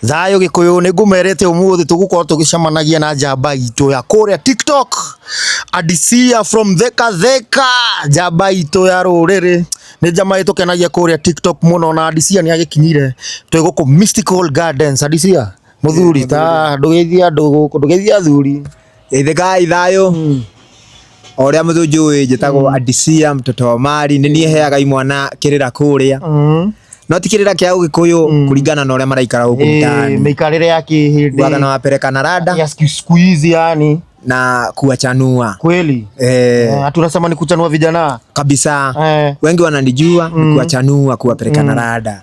Thayũ Gĩkũyũ nĩ ngũmerete ũmũthĩ tũgũkorwo tũgĩcemanagia na njamba itũ ya kũrĩa TikTok Adisia from Theka Theka, njamba itũ ya rũrĩrĩ nĩ njamba ĩtũkenagia kũrĩa TikTok mũno na Adisia nĩ agĩkinyire twĩ gũkũ Mystical Gardens. Adisia mũthuri ta ndũgeithia andũ gũkũ ndũgeithia athuri. Geithĩkai thayũ o ũrĩa mũthunjũĩ njĩtagwo Adisia mtoto wa Mari nĩ niĩ heaga imwana kĩrĩra kũrĩa no ti kĩrĩra kĩa ũgĩkũyũ kũringana na ũrĩa maraikara gũkũ mtaani mĩikarĩre ya kĩhĩndĩ Bwaga na wapeleka na rada ya siku- siku hizi yani na kuwachanua kweli eh, Eh, ati unasema ni kuchanua vijana kabisa eh. wengi wananijua ni kuwachanua kuwapeleka na rada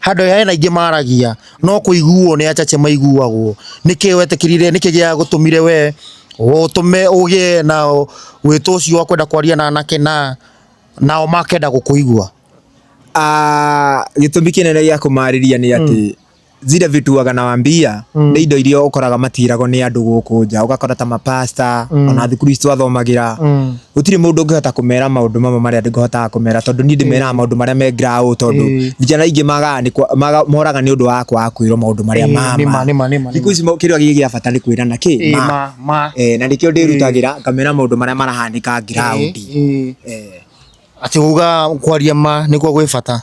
Handũ ya hena ingĩ maragia no kũiguo nĩ achache maiguagwo. Nĩkĩ wetikĩrire nĩkĩ gĩa gũtũmire we ũtũme ũgĩe na wĩtwa ũcio wa kwenda kwaria na anake na nao makenda gũkũigua? Ah, gĩtũmi kĩnene gĩa kũmarĩria nĩ atĩ zile vitu waga nawaambia nĩ indo iria ũkoraga matiragwo nĩ andũ gũkũ nja, ũgakora ta ma pastor ona thukuru ici twathomagĩra gũtirĩ mũndũ ũngĩhota kũmera maũndũ mamwe marĩa ndĩhotaga kũmera tondũ niĩ ndĩmeraga maũndũ marĩa me ground tondũ Ĩĩ. vijana aingĩ magaga nĩ kwa- maga- moraga nĩ ũndũ wa kwaga kwĩrwo maũndũ marĩa ma nĩma ma nĩma nĩma thikũ ici mo- kĩrĩa gĩ gĩa bata nĩ kwĩrana kĩ Ĩĩ, ma ma ma Eh, na nĩkĩo ndĩrutagĩra ngamera maũndũ marĩa marahanĩka ground Ĩĩ, ĩĩ. Eh. ati uga kwaria ma nikuo gwi bata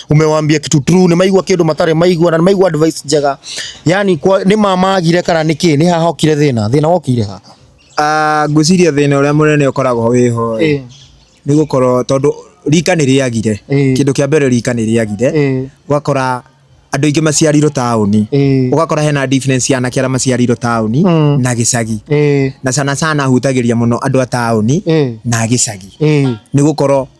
umewaambia kitu true, ni maigwa kindu matare maigwa na maigwa advice njega, yani kwa ni mamagire kana niki ni haha okire thina thina wokire ha ah ngwiciria thina uria munene ukoragwo wiho eh. ni gukorwo tondu rika ni riagire eh. kindu kia mbere rika ni riagire eh. gwakora andå ingä maciarirwo taåni å gakora hena difference ya anake arä a maciarirwo taåni mm. na gä cagi na sana sana hutagä ria må no andå a taåni na gä cagi nä gå korwo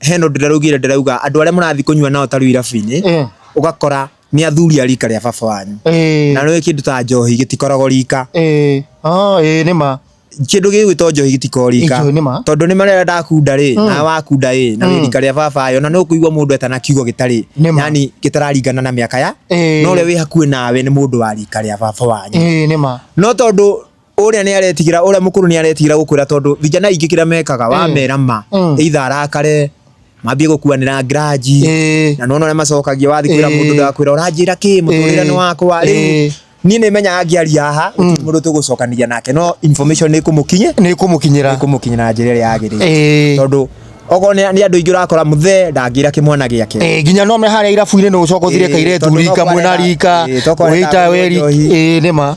hena ũndũ ndĩraugire ndĩrauga andũ arĩa mũrathiĩ kũnyua nao tarĩu irabu-inĩ Eh, ũgakora nĩ athuri a rika rĩa baba wanyu eh, na nĩ kĩndũ ta njohi gĩtikoragwo rika eh, ah, eh, nĩ ma kĩndũ gĩgwĩtwo njohi gĩtikoragwo rika Njohi nĩ ma. tondũ nĩ marĩa ndakunda rĩ Mm. na wakunda ĩ na Mm. wĩ rika rĩa baba yo na nĩ ũkũigua mũndũ etana kiugo gĩtarĩ Nĩ ma. yani gĩtararingana na mĩaka ya Eh. no ũrĩa wĩ hakuhĩ nawe nĩ mũndũ wa rika rĩa baba wanyu Eh, nĩ ma no tondũ Ũrĩa nĩ aretigĩra, ũrĩa mũkũrũ nĩ aretigĩra gũkwĩra tondũ vijana ingĩ kĩrĩa mekaga mm. wamera ma mm. either arakare mambie gukuanira ngiranji na nona uria macokagia wathi kwira mundu ndakwira uranjira ki muturire ni wakwa riu ni ni menya angiaria haha mm. mundu tugucokaniria nake no information ni kumukinye ni kumukinyira ni kumukinyira njira ria agirire tondu ogo ni ni andu ingi urakora muthe ndangira ki mwana giake eh ginya no me haria irabu-ini ni ucoka uthire kaire tu rika mwena rika wita weri eh ni ma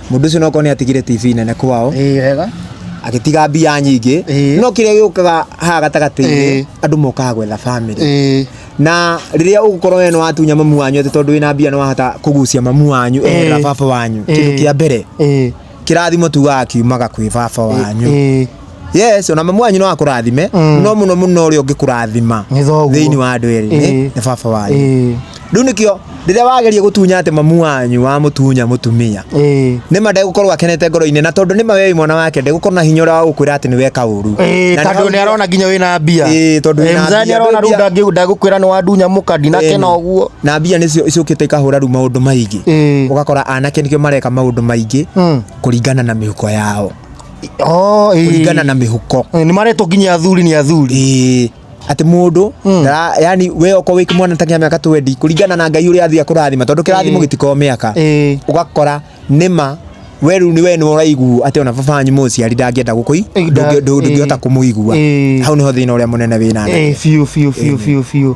Mũndũ ũcio nokorwo nĩ atigire TV nene kwao, ĩĩ wega agĩtiga mbia nyingĩ. Ĩĩ. No kĩrĩa gĩũkaga haha Ĩĩ. gatagatĩ-inĩ, andũ mokaga gwetha bamĩrĩ. ĩĩ Na rĩrĩa ũgũkorwo we nĩ watunya mamu wanyu atĩ tondũ wĩna mbia nĩ wahota kũgucia mamu wanyu eherera Ĩĩ. baba wanyu, kĩndũ Ĩĩ. kĩa mbere, ĩĩ kĩrathimo tugaga kiumaga kwĩ baba wanyu. ĩĩ yes ona mamu wanyu no akũrathime Mm. no mũno mũno ũrĩa ũngĩkũrathima Nĩ thoguo. thĩinĩ wa andũ erĩ nĩ Ĩĩ. nĩ baba wanyu Ĩĩ, rĩu nĩkĩo rĩrĩa wageria gũtunya atĩ mamu wanyu wa mũtunya mũtumia ĩĩ. nĩ ma ndegũkorwo akenete ngoro-inĩ na tondũ nĩ ma wei mwana wake ndegũkorwo na hinya ũrĩa wa gũkwĩra atĩ nĩ weka ũru Ĩĩ, Na nĩ tondũ hau- nĩ arona nginya wĩna mbia Ĩĩ, tondũ wĩna mzani mbia, arona rĩu mbia. ndangĩ- ndagũkwĩra nĩ wandunya mũka ndinakena Ĩĩ. ũguo na mbia nĩcio icũkĩte ikahũra rĩu maũndũ maingĩ Ĩĩ. ũgakora anake nĩkĩo mareka maũndũ maingĩ Mm. kũringana na mĩhuko yao Oh, ĩĩ. kũringana na mĩhuko Eh, nĩ maretwo nginya athuri nĩ athuri Ĩĩ, atĩ mũndũ Mm. ndara- yani we okorwo wĩ mwana takinya mĩaka 20 kũringana na ngai ũrĩa athiĩ akũrathima tondũ kĩrathimo Ĩĩ. gĩtikoragwo mĩaka Ĩĩ. ũgakora nĩma we rĩu nĩ we nĩ ũraiguo atĩ ona baba wanyu mũciari ndangĩenda gũkũi Ĩĩ, nda- ndũngĩhota ĩĩ. kũmũigua Ĩĩ. hau nĩho thĩna ũrĩa mũnene wĩna Eh, biũ biũ biũ biũ biũ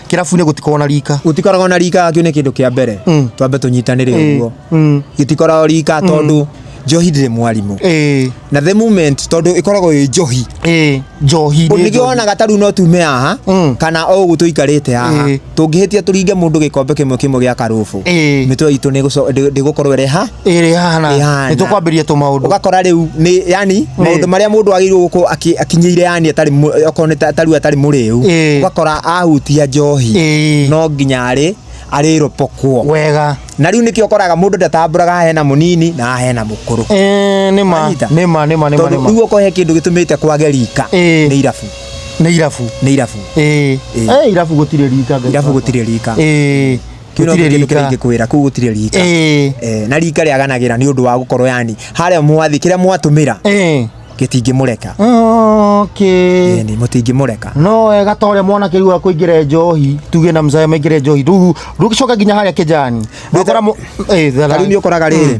kĩrabu-inĩ gũtikoragwo na rika gũtikoragwo na rika kĩu nĩ kĩndũ kĩa mbere Mm. twambe tũnyitanĩre ũguo Mm. gĩtikoragwo rika tondũ njohi ndĩrĩ mwarimũ Ĩĩ, na the moment tondũ ĩkoragwo ĩ njohi ĩĩ, njohi nĩ nĩkĩo njohi. wonaga tarĩu no tume haha Mm. kana o ũguo tũikarĩte haha Ĩĩ. tũngĩhĩtia tũringe mũndũ gĩkombe kĩmwe kĩmwe gĩa karũbũ Ĩĩ. mĩtwe itũ nĩ ĩgũco- ndĩ- ndĩgũkorwo ĩreha ĩrĩ hana Ĩhana. nĩ tũkwambĩrĩria tũmaũndũ ugakora riu ni yani maundu maria mundu agirwo guko akinyire yani atari okorwo ni ta- tariu atari muriu Ĩĩ. ugakora ahutia njohi Ĩĩ. no nginya ari ari ropokwo wega na riu nikio koraga mundu ndatamburaga hena munini na hena mukuru Eh, nĩ ma Wanyita? nĩ ma nĩ ma nĩ ma nĩ tondu ma riu okorwo he kindu gitumite kwage rika Ĩĩ. ni irabu nĩ irabu ni irabu Ĩĩ. Ĩĩ. Eh, irabu gũtirĩ rika Ngai irabu baba. gutire rika Ĩĩ. Kĩu no gũtirĩ kĩndũ rika kĩrĩa ingĩkwĩra kuu gũtirĩ rika Eh, Eh, na rika rĩaganagĩra nĩ ũndũ wa gũkorwo yani harĩa mwathi kĩrĩa mwatũmĩra eh. gĩtingĩmũreka okay Ĩni, mũtingĩmũreka no wega ta ũrĩa mwanake rĩu akũingĩre njohi tuge na mzaya maingĩre njohi rĩu rũgĩcoka nginya harĩa kĩjani Ndũkora- wakora mũ- eh, thara- Tarĩu nĩ ũkoraga rĩrĩ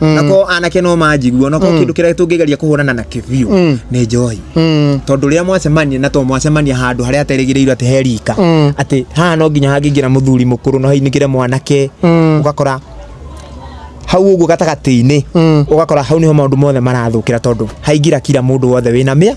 Mm. nako anake no manjigua nako mm. kindu kiria tungigeria kuhurana na kibiu mm. ni njohi mm. tondu riria mwacemania na to mwacemania handu haria aterigiriirwo ati he rika mm. ati haha no nginya hangingira muthuri mukuru no hainigire mwanake mm. ugakora hau uguo gatagati-ini mm. ugakora hau niho maundu mothe marathukira tondu haingira kira mundu wothe wina mia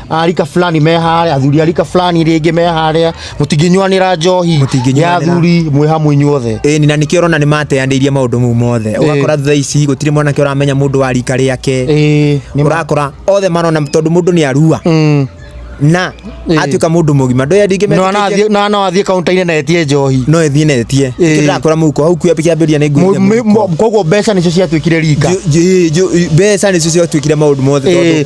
arika fulani me harĩa athuri arika fulani rĩngĩ me harĩa mũtingĩnyuanĩra njohi ya Mũtingĩnyuanĩra. athuri mwĩ hamwe inyuothe ĩĩ ni na nĩkĩo ũrona nĩ mateanĩirie maũndũ mau mothe ũgakora thutha ici gũtirĩ mwanake ũramenya mũndũ wa rika rĩake Ĩĩ, nĩ ma- ũrakora othe marona tondũ mũndũ nĩ arua Mm. na Ĩĩ. atuĩka mũndũ mũgima ndoya ndingĩ No metĩkĩtie- anathiĩ- no no athiĩ kaunta-inĩ na etie njohi no ĩthiĩ na ĩtie Ĩĩ. Nĩkĩo ndĩrakora mũhuko hau kuo kĩambĩrĩria nĩ Mu- mi- ngũria mu- koguo mbeca nĩcio ciatuĩkire rika mbeca nĩcio ciatuĩkire maũndũ mothe tondũ Ĩĩ.